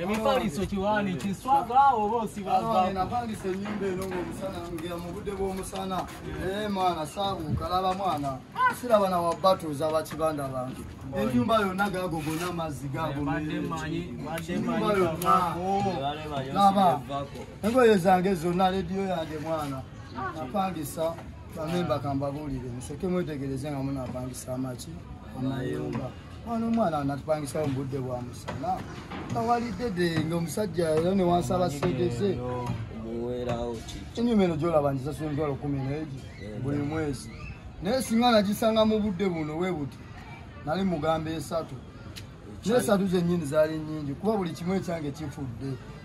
emifaliso kiwaani kiswaga awo oba osibaapangisa enyumba eno ngaomusana ngira mu budde bw'omusana ee mwana saabuuka laba mwana siraba na wabatuuza bakibanda bange enyumba yonna gaago gona amazzi gaagonyumbayonnalaba engoye zange zonna lediyo yange mwana napangisa bamemba kambabuulire museke mwetegereze nga munapangisa amaki amayumba mwana omwana anatupangisawo mu budde bwa musana nga walidde de nga omusajja era ne wansaba sente ze enyuma eno gyolaba ngisasula emitwalo kumi neegi buli mwezi naye singa nagisanga mu budde buno we buti nali mugamba esatu nesatu zenyini zaali nyingi kuba buli kimu ekyange kifudde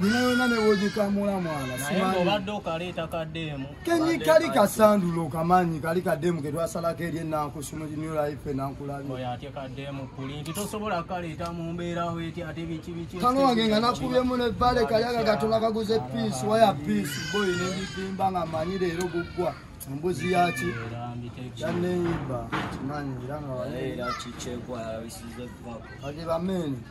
Nina yona ne woji kamula mwana. Sima ni. Obadde okaleta ka demu. Kenyi kali ka sandu lo kamanyi kali ka demu ke twasala ke lye na kusuma di new life na nkulabi. Oya ate ka demu kuli. Tito sobola kali ta mumbera we ti ate bichi bichi. Kano wange ngana kubye mune vale kali aga gatola ka guze peace waya peace boy ne bipimba nga manyi le ro gugwa. Mbuzi ya chi. Ya ne iba. Manyi iranga wale. Era chi chekwa ya wisize kwa. Adi ba meni.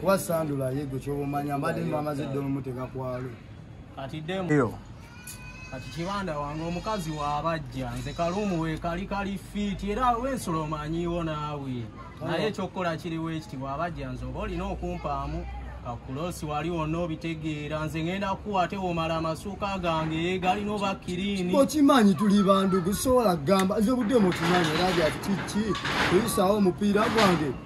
kuba sandula yegwe kyobomanya mbadde mwamaze dde omuteka kwalo kati demu kati kibanda wange omukazi wabajja nze kalumu wekali kali fiiti era wensula omanyiwo naawe naye ekyokukola kiriwo ekiti bwabajja nze oba olina okumpaamu kakulosi wali wonna obitegeera nze ngenda kuwa ate womala amasuuka gange galina oba kirini okimanyi tuli bandu gusobola kugamba nze obudde mukimanyi era byati kiki kuyisaawo omupiira gwange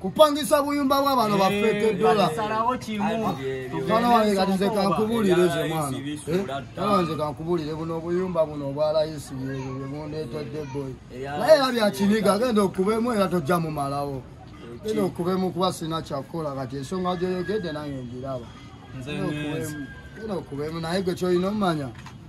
kupangisa buyumba bwa bano bafeke eh, dola mwana wange kati nze kankubulire ze mwana eh, mwana wange kankubulire buno obuyumba buno obwa layisi bwebundetedde boy naye era byakiniga agenda okubemu era tojja mumalawo genda okubemu kuba sina kyakukola kati ensonga gyoyogedde nange ngiraba genda okubemu naye gwe kyolina omumanya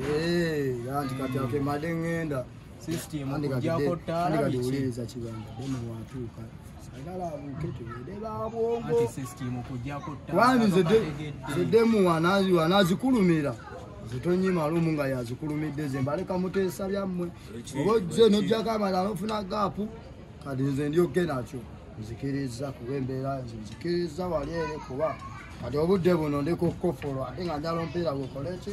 Eh, anti kati akemade ŋŋenda andikadiwuliriza kigambo dema watuuka kubanga zedemu wanazikulumira zitonyima lumu nga yazikulumidde ze mbaleka muteesa byammwe oba ojje nojjako amala nofuna gaapu kati nze ndyoke nakyo nzikiriza kuba embeera nze nzikiriza wali ere kuba kati obudde buno ndikukofolwa ate nga njala ompeera gwekoleki